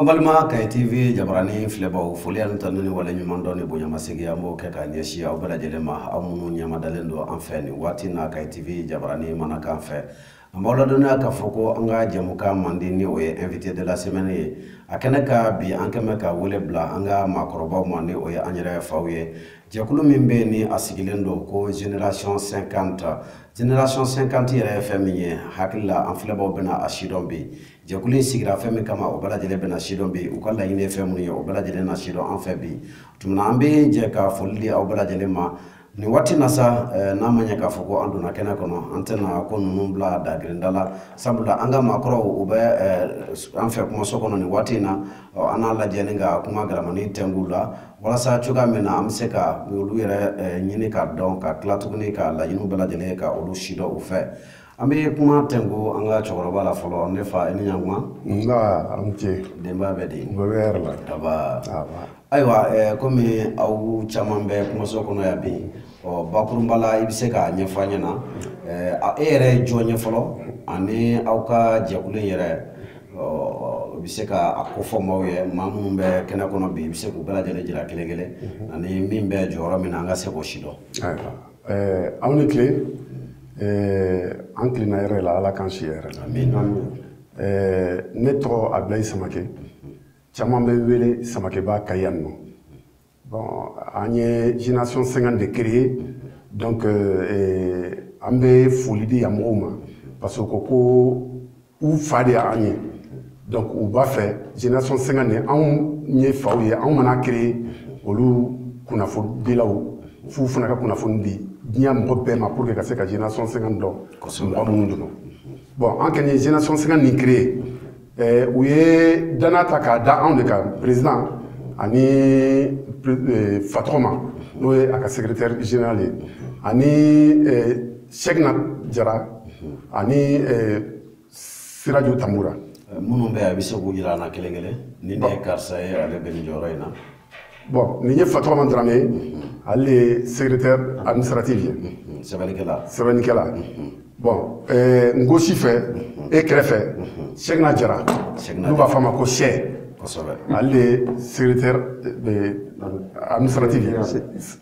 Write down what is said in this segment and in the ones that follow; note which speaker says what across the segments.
Speaker 1: an balima kaye tv jabarani filɛbaw foli ani tanu ni wale ɲuman dɔn ni bonyamasegi an b'o kɛ ka ɲɛsi aw bɛɛ lajɛlen ma aw minnu ɲɛmadalen don an fɛ nin waati na kaye tv jabarani mana kan fɛ an b'aw ladɔnniya k'a fɔ ko an ka jɛmukan mandi ni o ye invité de la semaine ye a kɛnɛ kan bi an kɛmɛ ka wele bila an ka maakɔrɔbaw ma ni o ye an yɛrɛ faw ye jɛkulu min bɛ ni a sigilen don ko génération 50 génération 50 yɛrɛ ye fɛn min ye hakili la an filɛbaw bɛna a sidɔn bi jɛkulu in sigira fɛn min kama o bɛɛ lajɛlen bɛna sidɔn bi u ka laɲini ye fɛn minnu ye o bɛɛ lajɛlen na sidɔn an fɛ bi tuma na an bɛ jɛ ka foli di aw bɛɛ lajɛlen ma nin waati na sa eh, n'a ma ɲɛ k'a fɔ ko an donna kɛnɛ kɔnɔ an tɛna ko ninnu bila dagirinda la sabula an ka maakɔrɔw u bɛ eh, an fɛ kumaso kɔnɔ nin waati in na an n'a lajɛ ni ka kuma garamani tɛngu u la walasa cogoya min na an bɛ se ka olu yɛrɛ eh, ɲini ka dɔn ka tila tuguni ka laɲiniw bɛɛ lajɛlen ka olu sidɔn u fɛ an bɛ kuma tɛngu an ka cɛkɔrɔba la fɔlɔ ne fa i ni ɲantuma nba a
Speaker 2: ni ce denbaya bɛ di
Speaker 1: bɛɛ bɛ hɛrɛ la daba ayiwa eh, komi aw caman bɛ kumaso kɔnɔ yan bi ɔ bakurunba la i bɛ se k'a ɲɛfɔ an ɲɛna eh, e yɛrɛ ye jɔn ye fɔlɔ ani aw ka jɛkulu in yɛrɛ i bɛ se ka a kofɔ maaw ye maa minnu bɛ kɛnɛ kɔnɔ bi i bɛ se k'u bɛɛ lajɛlen jira kelen kelen ani min bɛ jɔyɔrɔ min na an ka se k'o sidɔn
Speaker 2: Eh, aw ni tile eh, an tilenna hɛrɛ la ala k'an si hɛrɛ la eh, ne tɔgɔ abilayi samake caman bɛ wele samakeba kayi yan nɔ bon an ye génération 50 de créer donc an bɛ foli di yan mɔgɔw ma parce que ko ko u fa de y'an ye donc u b'a fɛ génération 50 nin anw ye faw ye anw mana créer olu kunnafonidilaw f'u fana ka kunnafoni di diɲɛ mɔgɔ bɛɛ ma pour que ka se ka génération 50 dɔn mɔgɔ minnu don bon an kɔni ye génération 50 nin créer eh, u ye danaya ta k'a da anw de kan président ani eh, fatɔgɔma n'o ye a ka secrétaire général ye ani eh, Sɛgina Jara ani eh, Siraju Tambura. Eh, minnu bɛ a
Speaker 1: bɛ se k'u jira an na kelen kelen nin de ye karisa ye ale bɛ nin jɔyɔrɔ in na. Bon nin ye
Speaker 2: Fatɔgɔma Darame ye mhm. ale de ye secrétaire mhm. administratif ye. Mhm. Sɛbɛnnikɛla. Sɛbɛnnikɛla. Bon eh, n ko si fɛ e kɛrɛfɛ Sɛgina Jara n'u b'a fɔ a ma ko Sɛ. Kosɛbɛ. Ale de ye secrétaire administratif ye.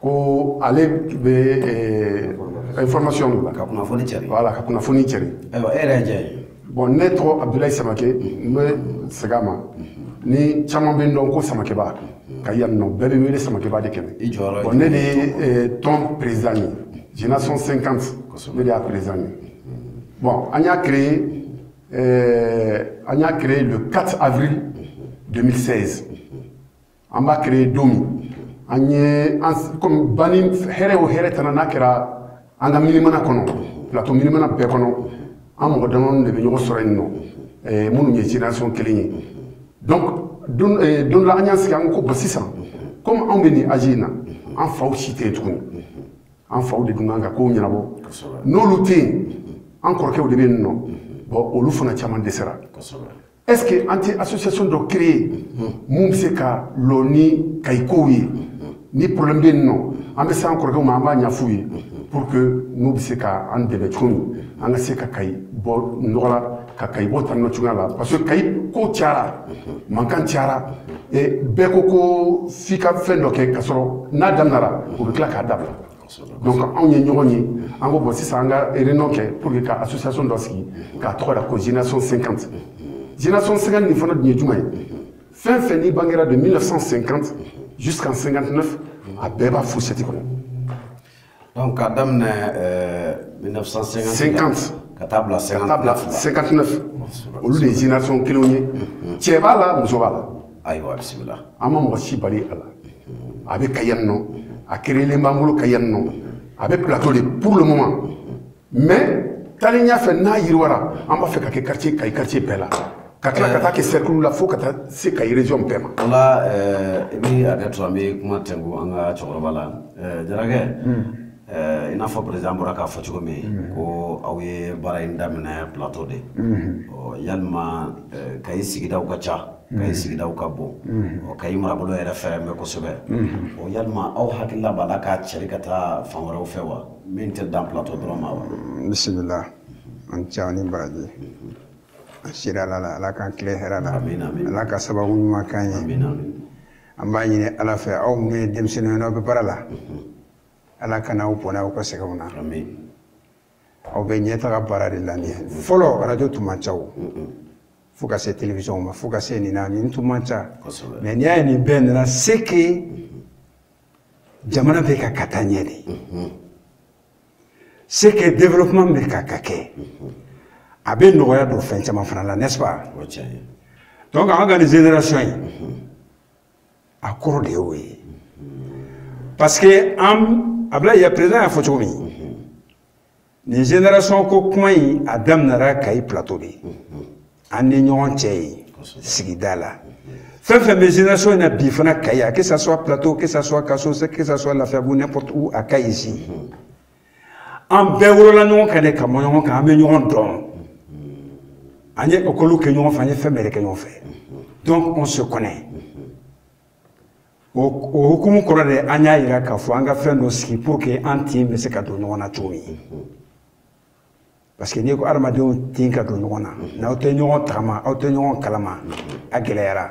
Speaker 2: ko ale bɛ information de la ka kunnafoni cɛri
Speaker 1: voilà ka kunnafoni
Speaker 2: cɛri ayiwa e yɛrɛ ye jɔn
Speaker 1: ye bon ne tɔgɔ abudulayi
Speaker 2: samake n bɛ segin a ma ni caman bɛ n dɔn ko samakeba kayi yan nɔ bɛɛ bɛ wele samakeba de kɛmɛ i jɔyɔrɔ bon ne
Speaker 1: de
Speaker 2: ye tɔn président ye génération 50 ne de y'a président ye bon an y'a créé an y'a créé le 4 avril 2016 an b'a créer don min an ye an comme bani hɛrɛ o hɛrɛ tana n'a kɛra an ka minimana kɔnɔ plateau minimana bɛɛ kɔnɔ an mɔgɔ damadɔni de bɛ ɲɔgɔn sɔrɔ yen nɔ minnu ye génération kelen ye donc don dɔ la an y'an sigi an ko bon sisan comme anw bɛ nin âge in na an faw si tɛ yen tuguni an faw de dun kan ka kow ɲɛnabɔ n'olu tɛ yen an kɔrɔkɛw de bɛ yen nɔ bon olu fana caman dɛsɛra est ce que an tɛ association dɔ créer min bɛ se ka lɔ ni kayi kow ye ni problème bɛ yen nɔ an bɛ se an kɔrɔkɛw ma an b'a ɲɛf'u ye pour que n'u bɛ se ka an dɛmɛ cogo min an ka se ka kayi bɔ nɔgɔ la ka kayi bɔ tan nɔ cogoya la parce que kayi ko cayara mankan cayara bɛɛ ko ko f'i ka fɛn dɔ kɛ k'a sɔrɔ n'a daminɛra u bɛ tila k'a dabila donc anw ye ɲɔgɔn ye an ko bon sisan an ka réunion kɛ pour que ka association dɔ sigi k'a tɔgɔ da ko génération 50 génération 50 nin fana dun ye jumɛn ye fɛn fɛn n'i bangera de 1950 jusqu'en 59 a bɛɛ b'a fourchette
Speaker 1: kɔnɔ donc k'a daminɛ 1950 ka taa bila 59
Speaker 2: olu de ye génération kelenw ye cɛ b'a la muso b'a la ayiwa
Speaker 1: bisimila an ma mɔgɔ si
Speaker 2: bali a la a bɛ kayi yan nɔ a créelen b'an bolo kayi yan nɔ a bɛ plateau de pour le moment mais taalen ɲɛfɛ n'a yiriwara an b'a fɛ k'a kɛ quartier kayi quartier bɛɛ la ka tila ka taa kɛ cercle la fo ka taa se kayi région bɛɛ ma o
Speaker 1: la i bɛ hakɛ to an bɛ kuma tɛnku an ka cɛkɔrɔba la jarakɛ i n'a fɔ président bɔra k'a fɔ cogo min ko aw ye baara in daminɛ plateau de yalima kayi sigidaw ka ca kayi sigidaw ka bon ɔ kayi marabolo yɛrɛ fɛrɛ bɛ kosɛbɛ o yalima aw hakilila b'a la k'a cɛri ka taa fan wɛrɛw fɛ wa min tɛ dan plateau dɔrɔn ma wa bisimila
Speaker 3: aw ni ce aw ni baraji an sira ala la ala k'an tile hɛrɛ la ala ka sababu ɲuman k'an ye an b'a ɲini ala fɛ aw minnu ye denmisɛnninw ye n'aw bɛ baara la ala kana aw bɔnɛ aw ka sɛgɛnw na aw bɛ ɲɛtaga baara de la nin ye fɔlɔ radio tun man ca o fo ka se télévisionw ma fo ka se nin na nin tun man ca mais n'i y'a ye nin bɛɛ nana c'est que jamana bɛ ka ka taa ɲɛ de c'est que développement bɛ ka ka kɛ a bɛ nɔgɔya don fɛn caman fana la n'est-ce pas donc an ka nin génération in a kɔrɔ de y'o ye parce que Ablaye président y'a fɔ cogo min nin génération ko kuma in a daminɛra kayi plateau de an ni ɲɔgɔn cɛ ye sigida la fɛn fɛn bɛ génération in na bi fana kayi a que ça soit plateau que ça soit kaso que ça soit lafiyabugu n'importe où à kayi ici an bɛɛ wolola ɲɔgɔn kan de ka mɔ ɲɔgɔn kan an bɛ ɲɔgɔn dɔn an ye ekɔliw kɛ ɲɔgɔn fɛ an ye fɛn bɛɛ de kɛ ɲɔgɔn fɛ donc on se connaît o hukumu kɔrɔ de an y'a yira k'a fɔ an ka fɛn dɔ sigi pour que an tin bɛ se ka don ɲɔgɔn na cogo min parce que n'i ko adamadenw tin ka don ɲɔgɔn na n'aw tɛ ɲɔgɔn tagama aw tɛ ɲɔgɔn kalama a gɛlɛyara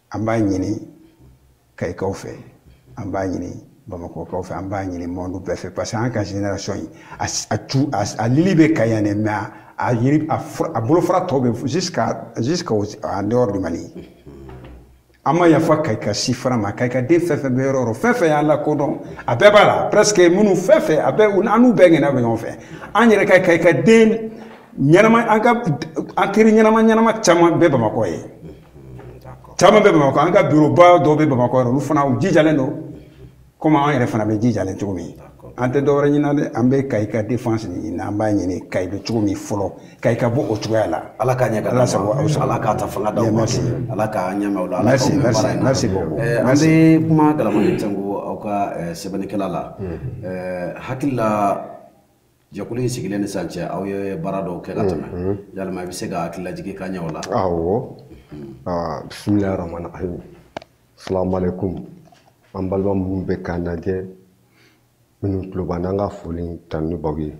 Speaker 3: an b'a ɲini kayikaw fɛ an b'a ɲini bamakɔkaw fɛ an b'a ɲini monde bɛɛ fɛ parce que an ka génération in a ju a lili bɛ kayi yan dɛ mais a yiri a bolofara tɔw bɛ jusqu'à jusqu'à en dehors du Mali an ma yafa kayika si fana ma kayika den fɛn fɛn bɛ yɔrɔ o yɔrɔ fɛn fɛn y'an lakodɔn a bɛɛ b'a la presque minnu fɛn fɛn a bɛɛ an n'u bɛɛ ŋɛna bɛ ɲɔgɔn fɛ an yɛrɛ ka kayika den ɲɛnama an ka an teri ɲɛnama ɲɛnama caman bɛ bamakɔ yen caman bɛ bamakɔ an ka bureau ba dɔw bɛ bamakɔ yɛrɛ olu fana u jijalen don komi an yɛrɛ fana bɛ jijalen cogo min an tɛ dɔwɛrɛ ɲini dɛ an bɛ kayi ka défense ɲini an b'a ɲini kayi bɛ cogo min fɔlɔ kayi ka bɔ o cogoya la ala k'a ɲɛ ala
Speaker 1: sago aw ala k'a ta fanga d'aw ma ala k'a ɲɛma la ala an bɛ kuma galamani tɛ ko aw ka sɛbɛnnikɛla la hakilila jɛkulu in sigilen ni sisan cɛ aw ye baara dɔw kɛ ka tɛmɛ mhm. yalima i bɛ se ka hakililajigi k'an ye o la
Speaker 4: awɔ ah, bisimilahi rahmani rahim salamaleykum an balima minnu bɛ k'an lajɛ minnu tulo b'an na an ka foli tanuni b'aw ye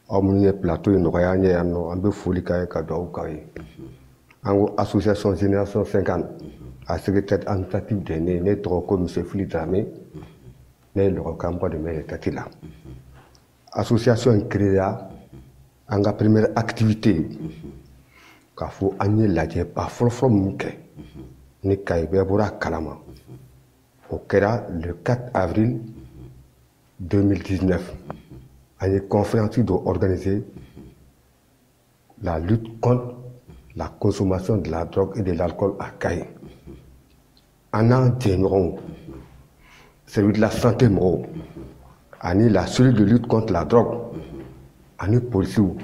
Speaker 4: aw minnu ye plateau in nɔgɔya an ye yan nɔ an bɛ foli k'aw ye ka dugawu k'aw ye an ko association génération 50 a secrétaire administratif de ne ne tɔgɔ ko monsieur Fili Dramé ne ye lɔgɔ kanba de mɛri tati la association in créera an ka première activité k'a fɔ an ye lajɛba fɔlɔfɔlɔ min kɛ ni kayi bɛɛ bɔra a kalama o kɛra le 4 avril 2019 an ye conférence dɔ organiser la lutte contre la consommation de la drogue et de l'alcool à kayi. An n'an jɛɲɔgɔnw service de la santé mɔgɔw ani la cellule de lutte contre la drogue ani polisiw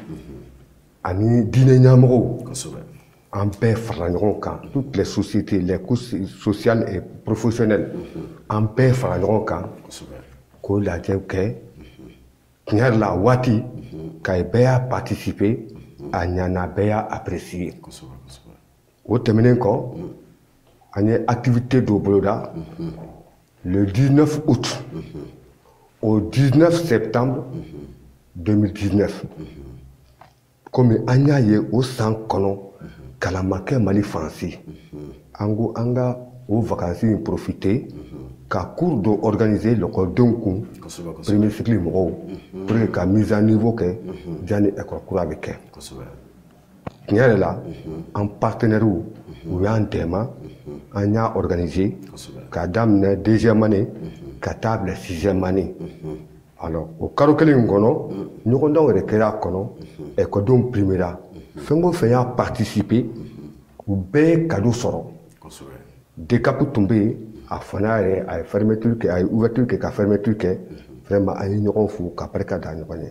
Speaker 4: ani diinɛ ɲɛmɔgɔw an bɛɛ farala ɲɔgɔn kan toutes les sociétés les couches sociales et professionnelles an bɛɛ farala ɲɔgɔn kan k'o lajɛ kɛ tiɲɛ yɛrɛ la waati mhm. kayi bɛɛ y'a participer mhm. a ɲana bɛɛ y'a apprécier o tɛmɛnen kɔ mhm. an ye activité dɔ boloda le 19 août au 19 septembre 2019 komi an y'a ye o san kɔnɔ kalan ma kɛ mali fan si an ko an ka o vakansi in profiter ka cours dɔ organiser lɔkɔlidenw kun premier cycle mɔgɔw pour que ka mise à niveau kɛ janni école kura bɛ kɛ tiɲɛ yɛrɛ la an partenaires u y'an dɛmɛ an y'a organiser k'a daminɛ deuxième année ka taa bila sixième année alors o karo kelen in kɔnɔ ɲɔgɔndanw yɛrɛ kɛra a kɔnɔ ɛkɔdenw primera fɛn o fɛn y'a participer u bɛɛ ye kado sɔrɔ DCAP tun bɛ yen a fana yɛrɛ a ye fermeture kɛ a ye ouverture kɛ ka fermeture kɛ vraiment an ye ɲɔgɔn fo ka barika da ɲɔgɔn ye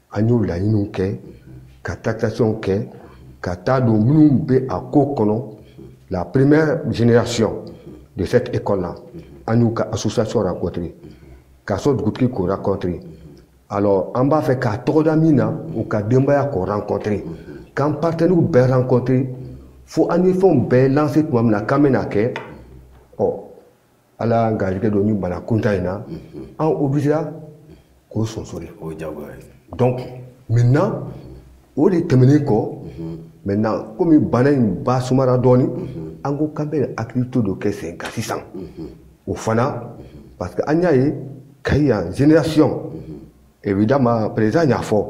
Speaker 4: an y'o laɲiniw kɛ ka tractations kɛ ka taa don minnu bɛ a ko kɔnɔ la première génération de cette école là an y'u ka association rencontré kaso dugutigi k'o rencontré alors an b'a fɛ k'a tɔgɔ da min na u ka denbaya k'o rencontré k'an partenaires bɛɛ rencontré fo an ye fɛnw bɛɛ lancer tuma min na k'an bɛna kɛ ɔ ala y'an garijɛgɛ don ni bana kuta in na an obligéra k'o sonsori o jagoya ye donc maintenant o de tɛmɛnen kɔ maintenant komi bana in ba sumara dɔɔni an ko k'an bɛ activité dɔ kɛ sen kan sisan o fana parce que an y'a ye kayi yan génération évidemment président y'a fɔ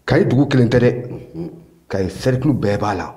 Speaker 4: kayi dugu kelen tɛ dɛ kayi cercle bɛɛ b'a la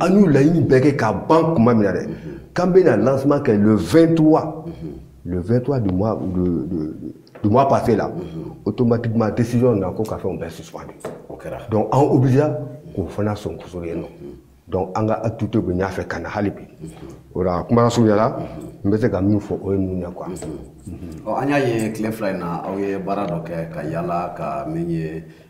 Speaker 4: an y'u laɲini bɛɛ kɛ ka ban tuma min na dɛ k'an bɛna lancement kɛ le 23 le 23 du mois de, de, du mois passé là automatiquement décision na ko ka fɛnw bɛɛ suspendu o kɛra donc an obligé k'o fana sonsoro yen nɔ donc an ka activité bɛ ɲɛ fɛ ka na hali bi o la kuma surunya la n bɛ se ka minnu fɔ o ye ninnu ye quoi. ɔ an y'a
Speaker 1: ye tile fila in na aw ye baara dɔ kɛ ka yala ka min ye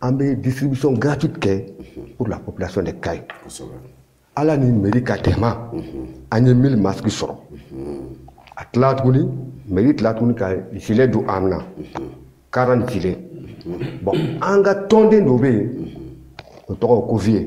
Speaker 4: an bɛ distribution gratuite kɛ pour la population de Kayi ala ni mairie ka dɛmɛ an ye 1000 masque sɔrɔ a tila tuguni mairie tila tuguni ka gilet don an na 40 gilet bon an ka tɔnden dɔ bɛ yen o tɔgɔ ko vieux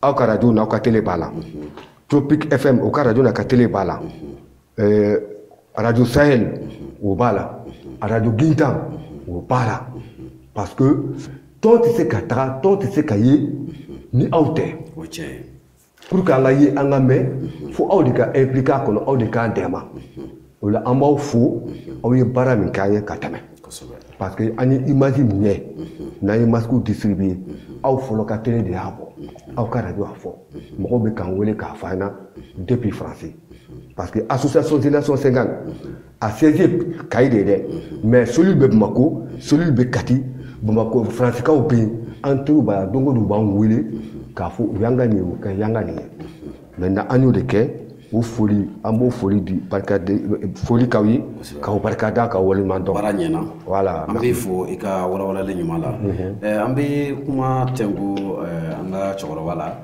Speaker 4: aw ka radio n'aw ka tele b'a la tropic fm o ka radio n'a ka tele b'a la eh, radio sahel o b'a la radio gintan o b'a la parce que tɔn tɛ se ka taga tɔn tɛ se ka ye ni aw tɛ pour que an ka ye an ka mɛn fo aw de ka impliquer a kɔnɔ aw de k'an dɛmɛ o la an b'aw fo aw ye baara min k'an ye ka tɛmɛ parce que an ye image minɛ n'an ye masque distribuer aw fɔlɔ ka télé de y'a bɔ aw ka radio y'a fɔ mɔgɔw bɛ k'an wele k'a fɔ an na depuis Faransi parce que association génération 50 a siège Kayi de dɛ mais cellule bɛ Bamako cellule bɛ Kati Bamako Faransikaw bɛ yen an teriw b'a la don o don u b'an wele k'a fɔ u y'an ka nin ye u ka y'an ka nin ye. maintenant an y'o de kɛ o foli an b'o foli di barika di foli k'aw ye k'aw barika da k'aw waleɲuman dɔn baara ɲɛna voilà
Speaker 1: an b'i fo
Speaker 4: i ka
Speaker 1: walawalali ɲuman la mhm. an bɛ kuma tɛnku an ka cɛkɔrɔba la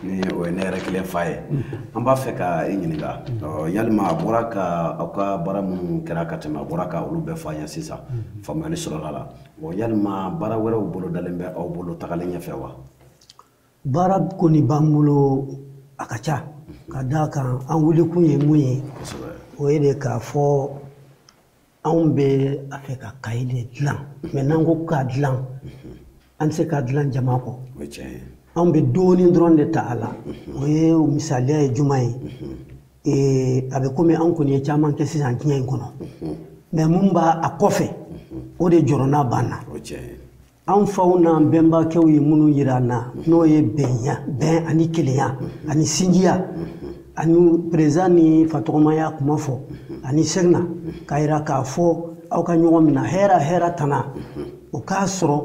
Speaker 1: ni o ye ne yɛrɛ kelen fa ye mhm. an b'a fɛ ka i ɲininka mhm. yalima a bɔra ka aw ka baara minnu kɛra ka tɛmɛ a bɔra ka olu bɛɛ fɔ an ye sisan faamuyali sɔrɔla a la yalima baara wɛrɛw bolodalen bɛ aw bolo tagalen ɲɛfɛ wa
Speaker 5: baara kɔni b'an bolo a ka ca ka d'a kan an wulikun ye mun ye o ye de k'a fɔ anw bɛ a fɛ ka Kayi de dilan mais n'an ko k'a dilan an tɛ se k'a dilan jama kɔ anw bɛ dɔɔnin dɔrɔn de ta a la o ye misaliya ye juma ye a bɛ komi anw kɔni ye caman kɛ sisan diɲɛ in kɔnɔ mais mun b'a a kɔfɛ o de jɔrɔna b'an na anw faw n'an bɛnbakɛw ye minnu yira an na n'o ye bɛnya bɛn ani kelenya ani sinjiya ani président n'i fa tɔgɔma y'a kuma fɔ ani sɛgina k'a yira k'a fɔ aw ka ɲɔgɔn minɛ hɛra hɛra tana o k'a sɔrɔ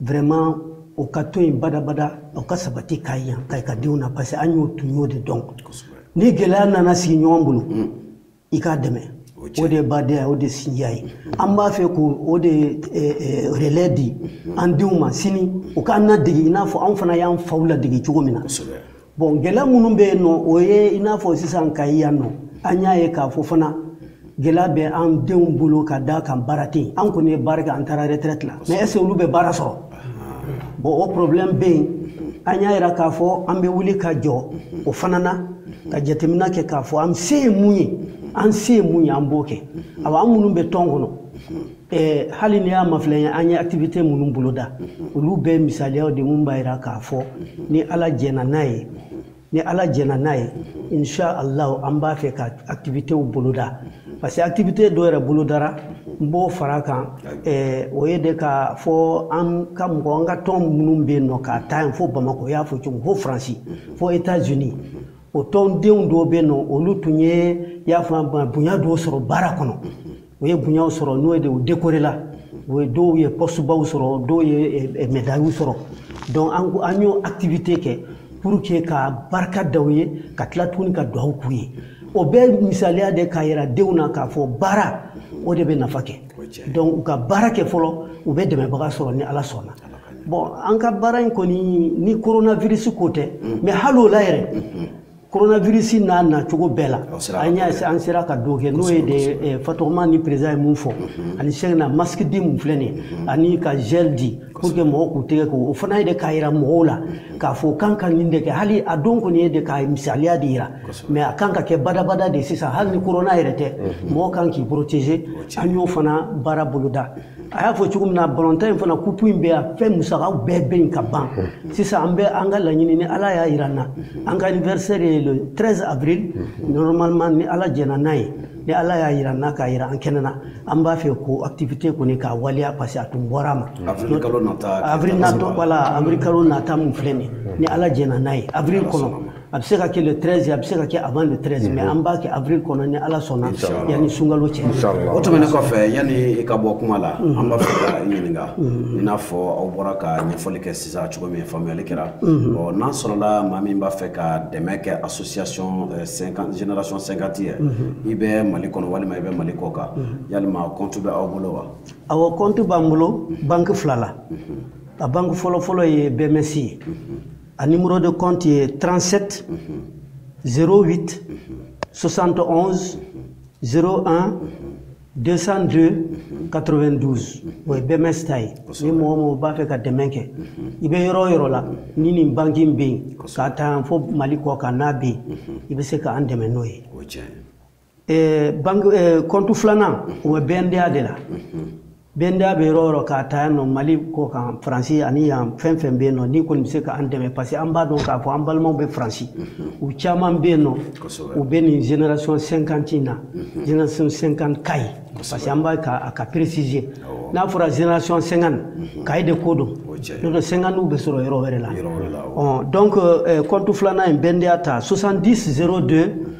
Speaker 5: vraiment o ka to yen badabada o ka sabati Kayi yan Kayika denw na parce que an y'o tun y'o de dɔn ni gɛlɛya nana sigiɲɔgɔn bolo i k'a dɛmɛ o de ye badenya o de ye sinjiya ye an b'a fɛ ko o de ye eh, eh, relais di mhm. an denw ma sini u k'an ladege i n'a fɔ anw fana y'an faw ladege cogo min na bon gɛlɛya minnu bɛ yen nɔ o ye i n'a fɔ sisan Kayi yan nɔ an y'a ye k'a fɔ fana gɛlɛya bɛ an denw bolo ka d'a kan baara tɛ yen an kɔni ye baara kɛ an taara retraite la mais est ce que olu bɛ baara sɔrɔ bon o problème bɛ yen an y'a yira k'a fɔ an bɛ wuli ka jɔ o fana na ka jateminɛ kɛ k'a fɔ an se ye mun ye an se ye mun ye an b'o kɛ awa an minnu bɛ tɔn kɔnɔ eh, hali n'i y'a mafilɛ ye an ye activité minnu boloda olu bɛɛ misaliyaw de mun b'a yira k'a fɔ ni ala jɛna n'a ye ni ala jɛna n'a ye insha allah an b'a fɛ ka activitéw boloda parce que activité dɔ yɛrɛ bolodara n b'o fara kan eh, o ye de k'a fɔ an ka mɔgɔ an ka tɔn minnu bɛ yen nɔ k'a ta yen fo bamakɔ y'a fɔ cogo fo faransi fo états unis o tɔndenw dɔw bɛ yen nɔ olu tun ye y'a fɔ bonya dɔw sɔrɔ baara kɔnɔ u ye bonyaw sɔrɔ n'o ye de u dekorela u ye dɔw ye postebaw sɔrɔ dɔw ye medayiw sɔrɔ donc an ko an y'o activité kɛ pour que ka barika da u ye ka tila tuguni ka duwawu k'u ye o bɛɛ misaliya de k'a yira denw na k'a fɔ baara o de bɛ nafa kɛ donc u ka baara kɛ fɔlɔ u bɛ dɛmɛbaga sɔrɔ ni ala sɔnna bon an ka baara in kɔni ni coronavirus ko tɛ mais hali o la yɛrɛ coronavirus n'a nacogo bɛɛ la an y'a an sera ka dɔ kɛ n'o ye de eh, fatɔgɔma ni président ye mun fɔ mhm. ani sɛgɛn na masque di mun filɛ nin ye mhm. ani ka gel di pour que mɔgɔw k'u tɛgɛ ko o fana ye de k'a yira mɔgɔw la mhm. k'a fɔ u kan ka nin de kɛ hali a don kɔni ye de k'a misaliya de yira mais a kan ka kɛ badabada de sisan hali ni corona yɛrɛ tɛ mɔgɔ kan k'i protéger an y'o fana baara boloda a y'a fɔ cogo min na balontan in fana kupu in bɛ yan fɛn musakaw bɛɛ bɛ yen ka ban sisan an bɛ an ka laɲini ni ala y'a yira an na an ka anniversaire ye le 13 avril normalement ni ala jɛnna n'a ye ni ala y'a yira an na k'a yira an kɛnɛ na an b'a fɛ k'o activité kɔni k'a waleya parce que a tun bɔra a ma avril natɔ voilà avril kalo nata min filɛ nin ye ni ala jɛnna n'a ye avril kɔnɔ a bɛ se ka kɛ le 13 a bɛ se ka kɛ avant le 13 mais an b'a kɛ avril kɔnɔ ni ala sɔnna yanni sunkalo cɛ o tɛmɛnen
Speaker 1: kɔfɛ yanni i ka bɔ kuma la an b'a fɛ ka i ɲininka i n'a fɔ aw bɔra ka ɲɛfɔli kɛ sisan cogo min faamuyali kɛra ɔ n'a sɔrɔla maa min b'a fɛ ka dɛmɛ kɛ association génération 50 ye i bɛ mali kɔnɔ walima i bɛ mali kɔkan yalima compte bɛ aw bolo wa awɔ compte b'an
Speaker 5: bolo banque fila la a banque fɔlɔ fɔlɔ ye bms ye A numéro de compte ye 37 08 71 01 202 92 o ye BMS ta ye ni mɔgɔ o mɔgɔ b'a fɛ ka dɛmɛ kɛ i bɛ yɔrɔ o yɔrɔ la ni nin banki in bɛ yen k'a ta yan fo Mali kɔkan n'a bɛ yen i bɛ se k'an dɛmɛ n'o ye. Eh, bank eh, compte filanan o bɛ BNDA de la BNDA bɛ yɔrɔ o yɔrɔ k'a ta yan nɔ mali kɔkan faransi ani yan fɛn o fɛn bɛ yen nɔ ni kɔni bɛ se k'an dɛmɛ parce que an b'a dɔn k'a fɔ an balimaw bɛ faransi u caman bɛ yen nɔ u bɛ nin génération 50 in na génération 50 kayi parce que an b'a ka a ka préciser n'a fɔra génération 50 kayi de ko don n'o tɛ 50 bɛ sɔrɔ yɔrɔ wɛrɛ la donc compte filanan in BNDA ta 70 02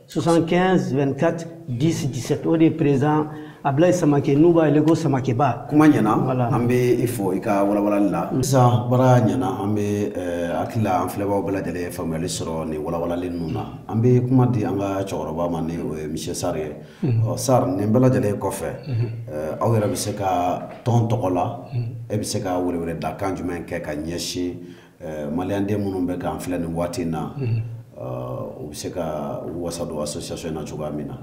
Speaker 5: 75 24 10 17 o de ye président ablaye samake n'u b'a wele ko samakeba kuma ɲɛna an
Speaker 1: bɛ i fo i ka walawalali la sisan baara ɲɛna an bɛ hakili la an filɛbaaw bɛɛ lajɛlen ye faamuyali sɔrɔ nin walawalali ninnu na an bɛ kuma di an ka cɛkɔrɔba ma ni o ye monsieur sar ye ɔ sar nin bɛɛ lajɛlen kɔfɛ aw yɛrɛ bɛ se ka tɔn tɔgɔ la e bɛ se ka weleweledakan jumɛn kɛ ka ɲɛsin Eh, maliyanden minnu bɛ k'an filɛ nin waati in na mhm. eh, u bɛ se ka wasa don association in na cogoya min na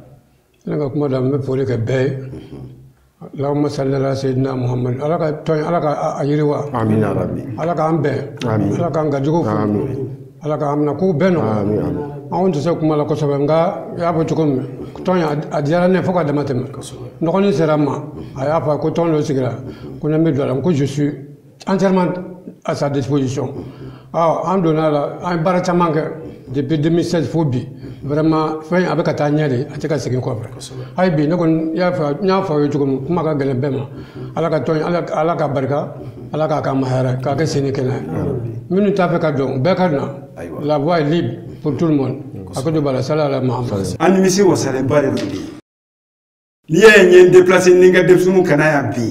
Speaker 1: ne ka kuma
Speaker 6: da n bɛ foli kɛ bɛɛ ye mhm. Allahumma salli ala sayyidina Muhammad ala ka tɔn ala ka a yiriwa amin ya rabbi
Speaker 2: ala k'an
Speaker 6: bɛn amin ala k'an gajugu fo amin ala k'an minɛ k'u bɛɛ nɔgɔya amin anw tɛ se kuma la kosɛbɛ nka i y'a fɔ cogo min tɔn a diyara ne fo ka dama tɛmɛ n dɔgɔnin sera n ma mhm. a y'a fɔ ko tɔn dɔ sigira ko ne bɛ don a la n ko je suis entièrement à sa disposition ɔ an donna a la an ye baara caman kɛ depuis 2016 fo bi vraiment fɛn a bɛ ka taa ɲɛ de a tɛ ka segin kɔfɛ hali bi ne kɔni y'a fɔ n y'a fɔ aw ye cogo min kuma ka gɛlɛn bɛɛ ma ala ka tɔn ala ala ka barika ala k'a ka mahayara k'a kɛ sen ni kɛnɛ minnu t'a fɛ ka don bɛɛ ka na la voie est libre pour tout le monde a ko don bala sala ala mahamadu an nimisiwasalenba
Speaker 3: de don bi n'i y'a ye n ye n deplase ni n ka denmisɛnninw ka na yan bi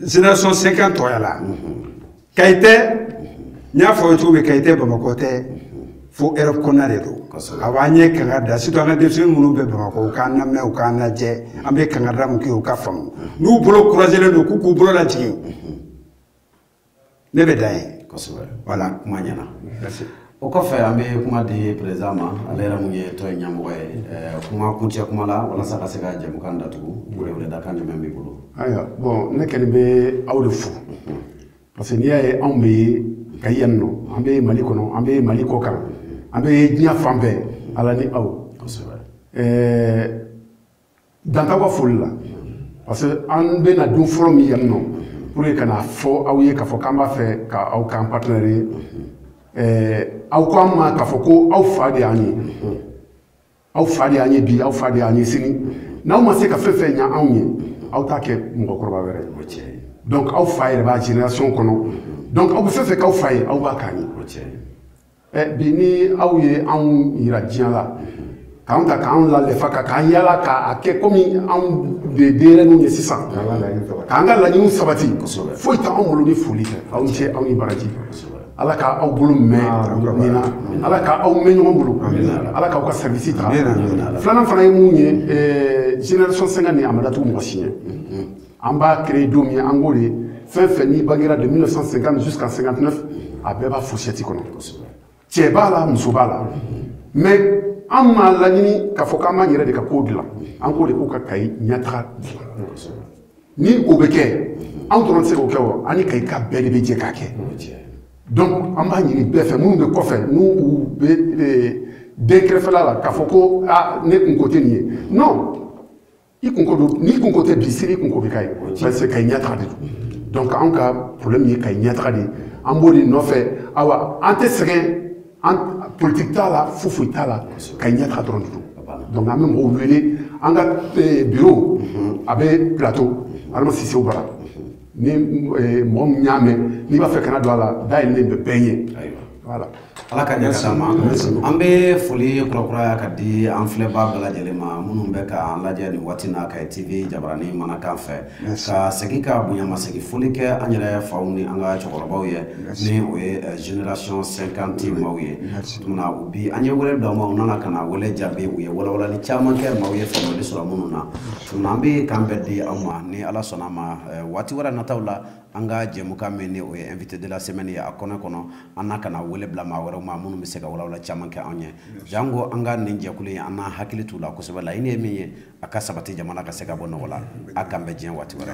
Speaker 3: génération cinquante tɔgɔya la kayi tɛ n y'a fɔ aw ye cogo min kayi tɛ bamakɔ tɛ fo erɔp kɔnɔna de don a b'an ye kankari da surtout an ka denmisɛnnin minnu bɛ bamakɔ u k'an lamɛn u k'an lajɛ an bɛ kankari da min kɛ u ka faamu n'u bolo croisélen don k'u k'u bolo lajigin ne bɛ dan ye kosɛbɛ voilà
Speaker 1: kuma ɲɛna o kɔfɛ an bɛ kuma di président ma ale yɛrɛ mun ye tɔn in ɲɛmɔgɔ ye eh, kuma kuncɛ kuma la walasa ka se ka jɛmukan datugu weleweledakan jumɛn b'i bolo ayiwa bon
Speaker 2: ne kɔni bɛ aw de fo parce que n'i y'a ye anw bɛ kayi yan nɔ an bɛ mali kɔnɔ an bɛ mali kɔ kan an bɛ diɲɛ fan bɛɛ ala ni aw kosɛbɛ eh, dan t'aw ka foli la parce que an bɛna don fɔlɔ min yan nɔ pour que ka na a fɔ aw ye k'a fɔ k'an b'a fɛ ka aw k'an partenaire ye ɛɛ aw ko an ma k'a fɔ ko aw fa de y'an ye aw fa de y'an ye bi aw fa de y'an ye sini n'aw ma se ka fɛn fɛn ɲa anw ye aw t'a kɛ mɔgɔkɔrɔba wɛrɛ ye donc aw fa yɛrɛ b'a génération kɔnɔ donc aw bɛ fɛn fɛn k'aw fa ye aw b'a k'an ye ɛ bi ni aw ye anw yira diɲɛ la k'an ta k'an lalefa ka k'an yala k'a kɛ komi anw de denyɛrɛninw ye sisan k'an ka laɲiniw sabati foyi tɛ anw bolo ni foli tɛ aw ni ce aw ni baraji ala ka aw bolo mɛn nin na ala ka aw mɛn ɲɔgɔn bolo ala k'aw ka service ta filanan fana ye mun ye génération cinquante ni a ma datugu mɔgɔ si ɲɛ an b'a créer don min an ko de fɛn fɛn n'i bangera de 1950 jusqu'à 59 a bɛɛ b'a fourchette kɔnɔ cɛ b'a la muso b'a la mais an m'a laɲini k'a fɔ k'an b'an yɛrɛ de ka kow dilan an ko de ko ka kayi ɲɛtaga dilan ni o bɛ kɛ an dɔrɔn tɛ se k'o kɛ o an ni kayika bɛɛ de bɛ jɛ k'a kɛ donc an b'a ɲini bɛɛ fɛ minnu bɛ kɔfɛ n'u u bɛ eh, den kɛrɛfɛla la k'a fɔ ko a ah, ne kunko tɛ nin ye non i kunko don n'i kunko tɛ bi sini i kunko bɛ k'a ye parce que kayi ɲɛtaga de don donc anw ka problème ye kayi ɲɛtaga de ye an b'o de nɔfɛ awa an tɛ sɛgɛn an politique t'a la foyi foyi t'a la kayi ɲɛtaga dɔrɔn de don donc an bɛ mɔgɔw wele an ka eh, bureau mhm. a bɛ plateau adama sisew bara ni eh, mɔgɔ min y'a mɛn n'i b'a fɛ ka na don a la da yɛlɛlen bɛ bɛɛ ye Voilà. Ala ka ɲɛ
Speaker 1: s'an ma an bɛ foli kurakuraya ka di an filɛbaa bɛɛ lajɛlen ma minnu bɛ ka an lajɛ nin waati na kayi tv jabarani manakan fɛ ka segin ka bonyamasegin foli kɛ an yɛrɛ faw ni an ka cɛkɔrɔbaw ye ni o ye eh, generation 50 maaw ye tuma u bi an ye wele bila u ma u nana ka na wele jaabi u ye walawalali caman kɛ maaw ye faamuyali sɔrɔ minnu na tuma an bɛ k'an bɛn di aw ma ni ala sɔnna a ma eh, waati wɛrɛ nataw la an ka jɛmukan min ni o ye invité de la semaine ye a kɔnɔ kɔnɔ an na ka na wele bila maa wɛrɛw ma minnu bɛ se ka walawala caman kɛ anw ye janko an ka nin jɛkulu in an n'an hakili t'u la kosɛbɛ laɲini ye min ye a ka sabati jamana ka se ka bɔ nɔgɔ la a k'an bɛn diɲɛ waati wɛrɛ